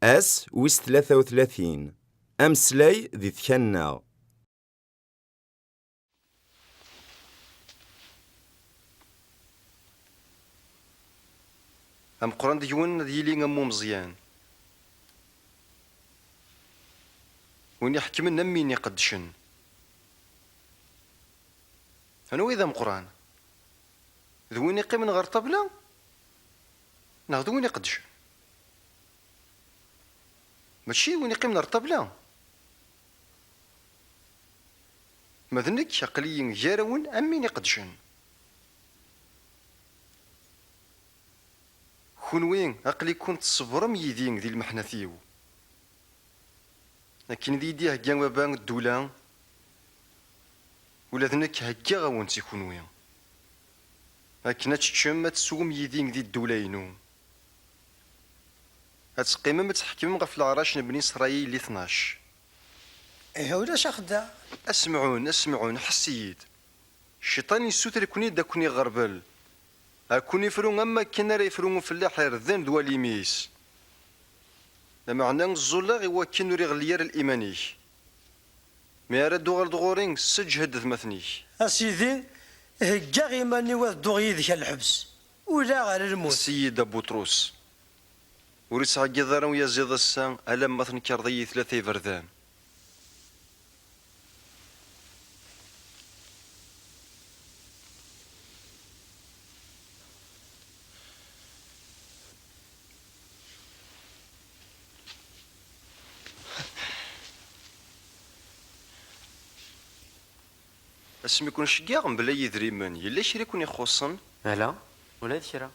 Ass wis tlata u tlatin. Ameslay di tkanna. Ameqran deg-wen ad yili am umeẓyan, win iḥekmen am win iqeddcen. Anwa i d ameqran? D win iqqimen ɣer ṭṭabla neɣ d win iqeddcen? Mačči win iqqimen ɣer ṭṭabla. Ma d nekk, aql-iyi gar-awen am win iqeddcen. Kunwi, aql-iken tṣebrem yid-i di lmeḥnat-iw. Akken i d-iyi-d-ihegga Baba ddula, Ula d nekk heggaɣ-awen-tt i kunwi, akken ad teččem, ad teswem yid-i di ddula-inu, ad teqqimem ad tḥekmem ɣef leɛrac n bni Srayil i tnac. Ihi ulac axeddaɛ. A Semɛun, a Semɛun, ḥess-iyi-d! Cciṭan yessuter-iken-id ad ken-iɣerbel, ad ken-ifru am wakken ara yefru ufellaḥ irden d walim-is. Lameɛna ẓẓulleɣ i wakken ur iɣelli ara liman-ik. Mi ara d-tuɣaleḍ ɣur-i, sseǧhed atmaten-ik. A Sidi, heggaɣ iman-iw ad dduɣ yid-k ar lḥebs, ula ar lmut. Seyid Abutrus, ur ittɛeggiḍ ara uyaziḍ ass-a alamma tenkeṛḍ-iyi tlata iberdan. Asmi i kun-ceggiɣ mebla yidrimen, yella kra i kun-ixuṣṣen? Ala, ula d kra.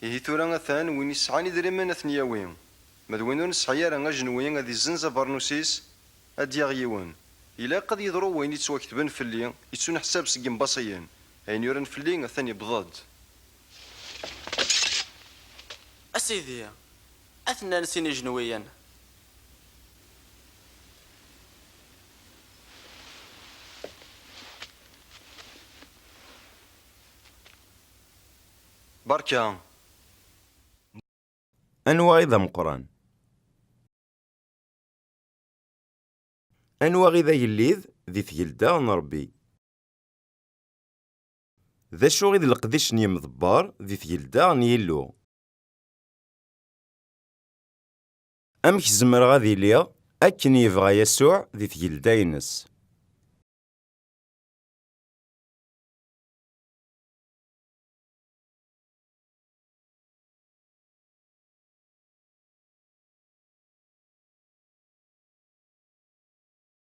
Ihi tura atan, win yesɛan idrimen ad ten-yawi, ma d win ur nesɛi ara ajenwi ad yezzenz abernus-is ad d-yaɣ yiwen. Ilaq ad yeḍru wayen yettwaktben fell-i, yettuneḥsab seg yembaṣiyen, ayen yuran fell-i atan yewweḍ-d. A Sidi, Ad t-nnan sin ijenwiyen. Berka. Anwa i d ameqqran? Anwa i d agellid di tgelda n Rebbi? D acu i d leqdic n yemḍebber di tgelda n Yillu? Amek zemreɣ ad iliɣ akken yebɣa Yasuɛ di tgelda-ines?